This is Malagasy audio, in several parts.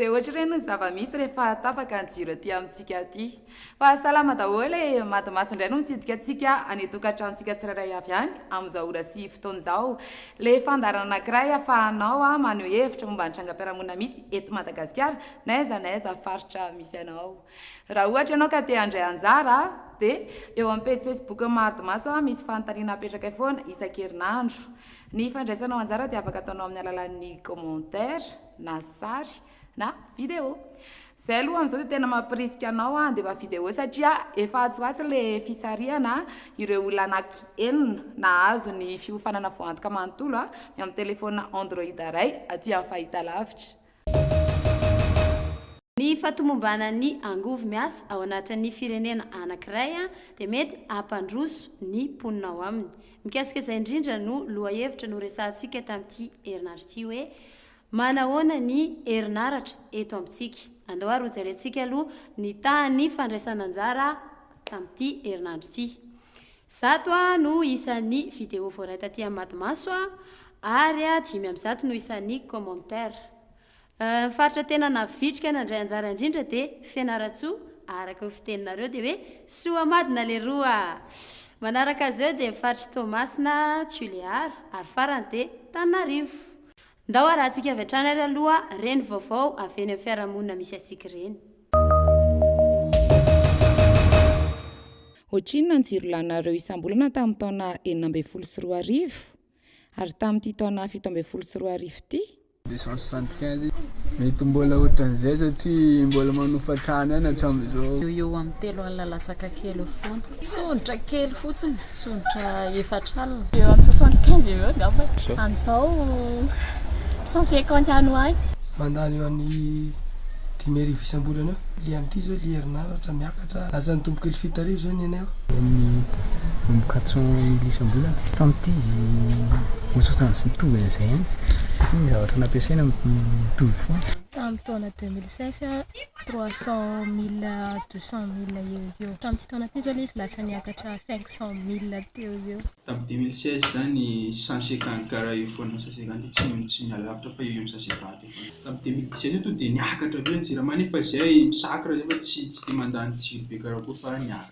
Dia ohatr'ireny ny zava-misy rehefa tapaka ny jiro aty amintsika aty. Fa salama daholo e! Mady maso indray no mitsidika antsika any an-tokantranontsika tsirairay avy any amin'izao ora sy fotoana izao. Ilay fandaharana anankiray ahafahanao maneho hevitra momba ny trangam-piarahamonina misy eto Madagasikara na aiza na aiza faritra misy anao. Raha ohatra ianao ka te handray anjara dia eo amin'ny pejy Facebook-n'ny Mady maso misy fanontaniana apetrakay foana isan-kerinandro. Ny fandraisanao anjara dia afaka ataonao amin'ny alalan'ny commentaire na sary na vidéo. Izay aloha amin'izao dia tena mampirisika anao handefa vidéo satria efa atsy ho atsy ilay fisarihana ireo olona anaky enina nahazo ny fiofanana voantoka manontolo ny amin'ny telefaonina Android iray aty amin'ny fahitalavitra. Ny fahatomombanan'ny angovo miasa ao anatin'ny firenena anankiray dia mety hampandroso ny mponina ao aminy. Mikasika izay indrindra no lohahevitra noresahantsika tamin'ity herinandro ity hoe, Manahoana ny herinaratra eto amintsika? Andao ary hojerentsika aloha ny tahan'ny fandraisana anjara tamin'ity herinandro ity. Zato no isan'ny video voaray taty amin'ny Madimaso ary dimy amby zato no isan'ny commentaire. Ny faritra tena navitrika nandray anjara indrindra dia Fianarantsoa, araka ny fiteninareo dia hoe Soamadina leroa! Manaraka azy eo dia ny faritr'i Toamasina, Tulear, ary farany dia Tananarivo. Ndao arahantsika avy hatrany ary aloha reny vaovao avy eny amin'ny fiarahamonina misy antsika ireny. Ohatrinona ny jiro lanareo isam-bolana tamin'ny taona enina ambin'ny folo sy roa arivo? Ary tamin'ity taona fito ambin'ny folo sy roa arivo ity? Deux cent soixante quinze, Mety mbola ohatran'izay satria mbola manofa trano ihany hatramin'izao. Eo ho eo amin'ny telo alina latsaka kely eo foana. Tsodraka kely fotsiny. Tsotra efatra alina. Eo amin'ny soixante quinze eo eo angamba e. Amin'izao cent cinquante any ho any. Mandany eo amin'ny dimy arivo isam-bolana eo. Ilay amin'ity izao ilay herinaratra miakatra lasa nitombo kely fito arivo izao ny anay ao. Eo amin'ny quatre cent mille isam-bolana. Tamin'ity izy ohatrohatran'ny izy mitovy an'izay ihany satria ny zavatra nampiasaina mitovy foana. Tamin'ny taona deux mille seize. trois cent mille à deux cent mille eo ho eo. Tamin'ity taona ity izao ilay izy lasa niakatra cinq cent mille teo ho eo. Tamin'ny deux mille seize izany cent cinquante karaha io foana, cent cinquante tsy tsy miha lavitra fa eo eo amin'ny cent cinquante eo foana. Tamin'ny deux mille dix sept tonga dia niakatra be ny jirama nefa izay misakra izay fa tsy tsy dia mandany jiro be karakory fa niakatra.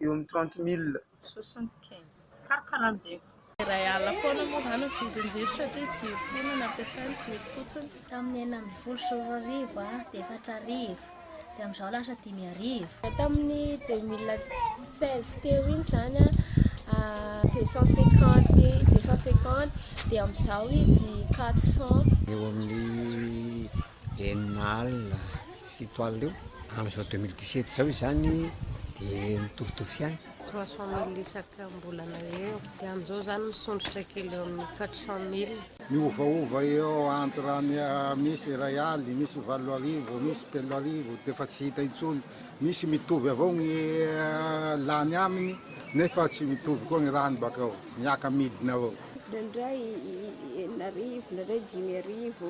eo amin'ny trente mille. Soixante quinze. Karoka lanjeko. Iray alina foana moa izany ny vidin-jiro satria jiro firy no nampiasainy, jiro fotsiny. Tamin'ny enina ambin'ny folo sy roa arivo dia efatra arivo, dia amin'izao lasa dimy arivo. Tamin'ny deux mille seize teo iny izany deux cent cinquante, deux cent cinquante dia amin'izao izy quatre cent. Eo amin'ny Enina alina, fito alina eo, amin'izao deux mille dix-sept izao izany dia mitovitovy ihany. Trois cent mille isakam-bolana eo, dia amin'izao izany misondrotra kely eo amin'ny quatre cent mille. Miovaova eo entre ny misy iray aly, misy valo arivo, misy telo arivo dia efa tsy hita intsony, misy mitovy avao ny lany aminy nefa tsy mitovy koa ny rany baka ao, miaka-midina avao. Indraindray enina arivo, indraindray dimy arivo.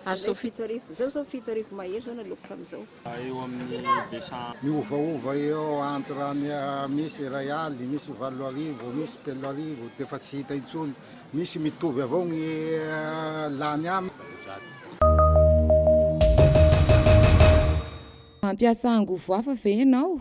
Ary zao fito arivo, izao zao fito arivo mahery izao naleoko tamin'izao. Eo amin'ny deux cent. Miovaova eo entre ny misy iray aly, misy valo arivo, misy telo arivo dia efa tsy hita intsony. Misy mitovy avao ny lany aminy. Mampiasa angovo hafa ve ianao?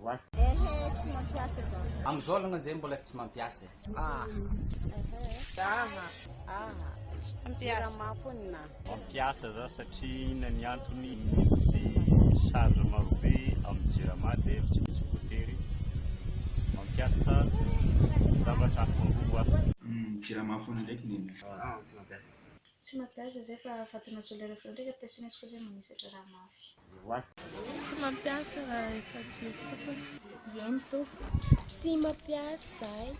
Voa. Ehe tsy mampiasa izao. Amizao alongany zay mbola tsy mampiasa e. Ah. Ehe. Aha. Aha. Jirama foana na. Mampiasa za satria inona ny antony misy charge marobe amin'ny jirama dia tsy misy voatery mampiasa zavatra hafa angovo a. Umm jirama foana ndraiky neny. Ah tsy mampiasa. Tsy mampiasa zay fa fatina solaire foana ndraiky ampiasaina izy koa zay manisatra raha mafy. Roa. Tsy mampiasa raha efa jiro fotsiny. Ieny tompoko. Tsy mampiasa izahay.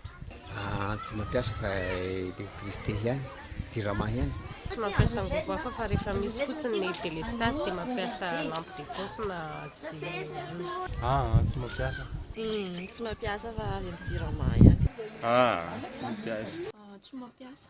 Ah, tsy mampiasa fa électricité ihany, jirama ihany. Tsy mampiasa angovo hafa fa rehefa misy fotsiny ny délestage dia mampiasa lampe de poche na jiro ihany. Ah, tsy mampiasa. Uhm, tsy mampiasa fa avy amin'ny jirama ihany. Ah, tsy mampiasa. Ah, tsy mampiasa.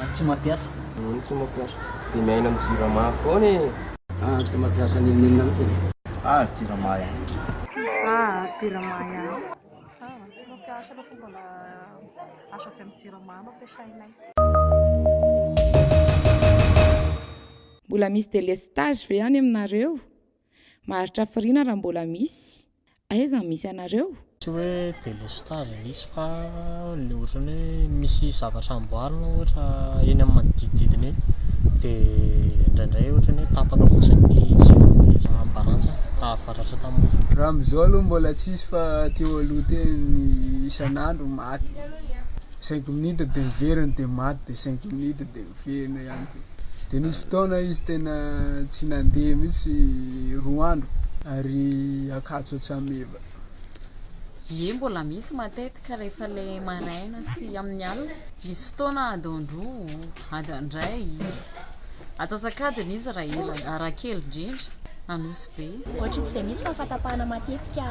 An tsy mampiasa. An tsy mampiasa. Dia miaina am jirama foana e. An tsy mampiasa an inona inona mitsy e. Ah jirama ihany. Ah jirama ihany. Ah tsy mampiasa aloha fa mbola azo avy am jirama no ampiasainay. Mbola misy delestage ve any aminareo? Maharitra hafiriana raha mbola misy. Aiza no misy anareo? Tsy hoe délestage misy fa ny ohatrany hoe misy zavatra amboarina ohatra eny amin'ny manodidididina eny dia indraindray ohatrany hoe tapaka fotsiny ny jiron'ny ambarantsany hahavaratra tamin'ny orana. Raha amin'izao aloha mbola tsisy fa teo aloha teo ny isan'andro maty cinq minutes dia miverina dia maty dia cinq minutes dia miverina. Velona ihany koa. Dia nisy fotoana izy tena tsy nandeha mihitsy roa andro ary Ankatso Antsameva. Ie mbola misy matetika rehefa le maraina sy amin'ny alina. Misy fotoana ady androa, ady andray. Atsasakadiny izy raha ela, raha kely indrindra, Anosibe. Ohatry ny tsy dia misy fa fatapahana matetika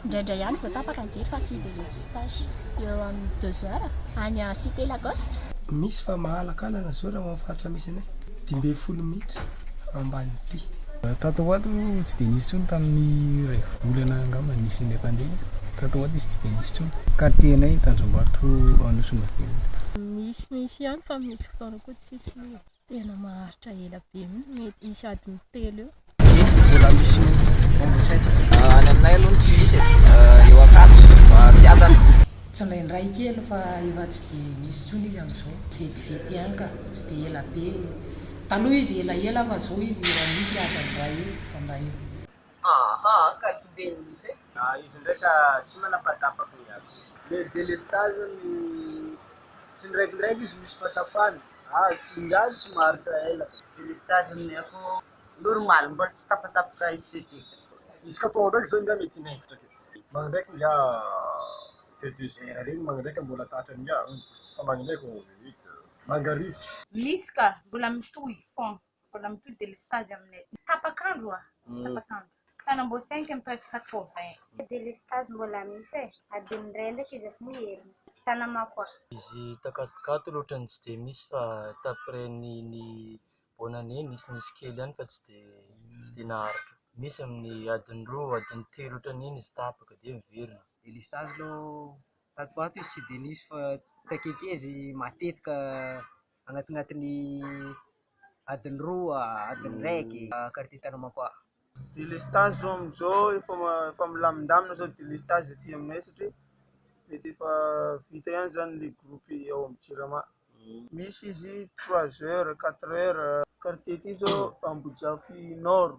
Indraindray ihany vao tapaka ny jiro fa tsy dia resy stage. Eo amin'ny deux heures any à cité Lacoste. Misy fa mahalakalana izao raha ho amin'ny faritra misy anay. Dimy ambin'ny folo minitra ambanin'ity. Tato ho ato tsy dia nisy intsony tamin'ny iray volana angamba nisy ilay pandemia. Tato ho ato izy tsy dia nisy intsony. Quartier anay Tanjombato Anosimaventy. Misy misy ihany fa misy fotoana koa tsisy. Tena maharitra ela be mety hisy adiny telo eo. Dia mbola misy mihitsy vao tsy haiko. Ah, any aminay aloha tsy misy e. Ah, eo Ankatso, ah, Tsiadana. Tsy indraindray kely fa efa tsy dia misy intsony izy amin'izao. Vetivety ihany ka, tsy dia ela be. Taloha izy elaela fa izao izy efa misy adiny iray eo, adiny iray eo. Ahaa, ka tsy dia misy e. Ah izy ndray ka tsy manapatapaky ny azy. Le delestage ny tsy ndraikindraiky izy misy fatapahany ah tsy ingahy tsy maharitra ela. Delestage ny akoho normal mbola tsy tapatapaka esthétique. Izy ka atao ndraiky zao ingahy mety hinevitra kely. Magny ndraiky ingahy de deux heures regny magny ndraiky mbola tratran'ny ingahy fa magny ndraiky vao vita. Manga rivotra. Misy ka mbola mitohy fôgna. Mbola mitohy delestazy aminay tapak'andro oa tapak'andro. Tanamboasainky ny presque quatre vingt. Delestazy mbola misy e! Adin'ny iray ndraiky izy efa miherina. Tanamako oa. Izy takatokato loatra no tsy dia misy fa t'après ny ny bonne année nisy nisy kely ihany fa tsy dia tsy dia naharitra. Misy amin'ny adin'ny roa adin'ny telo otran'iny izy tapaka dia miverina. Delestazy aloha tato ho ato izy tsy dia nisy fa takekezy matetika. Agnatignatin'ny adiny roa, adiny raiky, carte tanana koa. Délestage zao amizao efa efa milamindamina zao délestage aty aminay satria mety efa vita ihany zany le groupe ao amin'ny jirama, misy izy trois heures, quatre heures, quartier ty zao Ambojafy nord.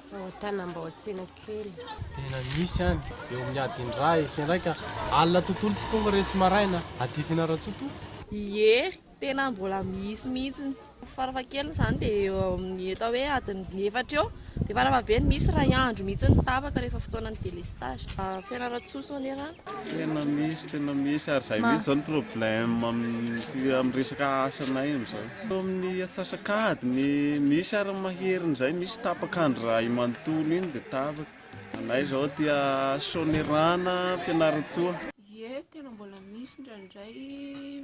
Tao Tanambaotsena kely. Tena misy any, eo amin'ny adin-dray sy endraika alina tontolo tsy tonga re tsy maraina, adifina Ratsoa toa. Ie, tena mbola misy mihitsy. Farafahakeliny izany dia eo amin'ny atao hoe adin'ny efatra eo, dia farafahabeny misy iray andro mihitsy ny tapaka rehefa fotoanan'ny délestage. Fianarantsoa Sonera. Tena misy, tena misy ary izay mihitsy izao ny problème amin'ny resaka asanay amin'izao. Tao amin'ny asasak'ady ny misy ary ny mahery indray misy tapaka andro iray manontolo iny dia tapaka. Anay izao aty Soanierana, Fianarantsoa. Ie, tena mbola misy indraindray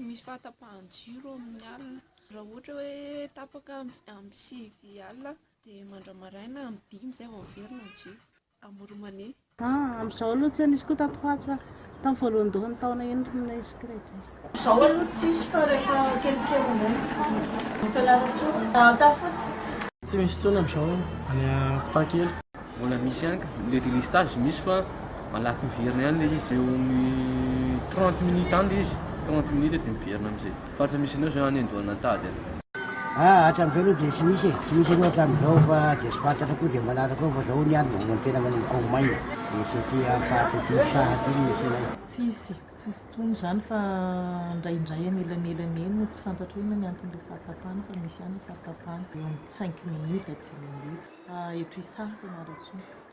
misy fahatapahan-jiro amin'ny alina. Raha ohatra hoe tapaka amin'ny sivy alina dia mandra-maraina amin'ny dimy izay vao miverina ny jiro. amour money. Ah amzao aloha tsy nisy koa tato ho ato fa tam voalohandohan'ny taona iny ry minay secret e. Zao aloha tsisy fa rehefa kelikely indray mitsiky ny fianarantsoa hahataha fotsiny. Tsy misy intsony amzao any ampitaha kely. Mbola misy ihany ka, le délestage misy fa malaky miverina ihany le izy, eo amin'ny trente minutes any le izy, trente minutes de miverina amizay. Fa tsy misy anao zao any an-doha nantady an. Ah hatramizao aloha dia tsy misy e, tsy misy anao hatramizao fa dia tsy fantatra koa dia manaraka eo fa zao ny ahy mbola tena manomboka maina dia tsy aty amin'ny faritra aty saha aty no tena. Tsisy, tsisy intsony izany fa indraindray anelanelany eny no tsy fantatro hoe inona ny anton'ilay fahatapahana fa misy ihany ny fahatapahana eo amin'ny cinq minutes, dix minutes eto isaha fianarantsoa.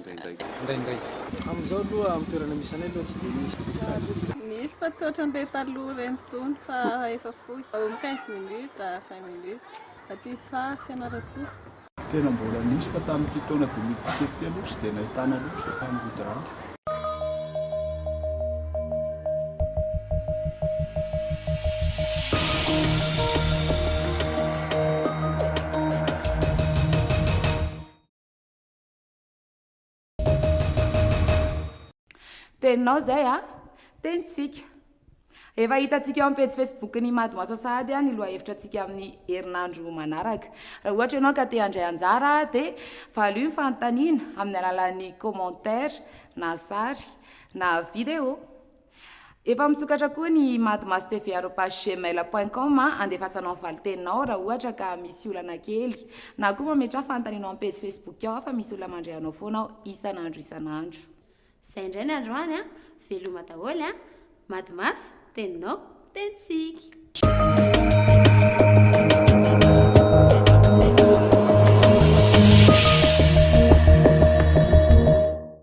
indraindray. Amin'izao aloha amin'ny toerana misy anay aloha tsy dia misy prestage. Misy fa tsy ohatran'ireny taloha ireny intsony fa efa fohy. Eo quinze minutes à vingt minutes. Aty Saha, Fianarantsoa. Tena mbola nisy fa tamin'ity taona deux mille dix-sept ity aloha tsy dia nahitana loatra izay fanodidràna. Teninao izay a! Tenintsika. Efa hitantsika eo amin'ny pejy Facebook-n'ny Imad Moasa Sahady ny lohahevitratsika amin'ny herinandro manaraka. Raha ohatra ianao ka te handray anjara dia valio ny fanontaniana amin'ny alalan'ny commentaire na sary na video. Efa misokatra koa ny madmas-tv-arobase-gmail point com handefasanao ny valin-teninao raha ohatra ka misy olana kely na koa mametraha fanontanianao amin'ny pejy facebook ao fa misy olona mandre anao foana ao isan'andro isan'andro. Zay indray ny androany a! Veloma daholo a! Madmas, teninao, tenintsika.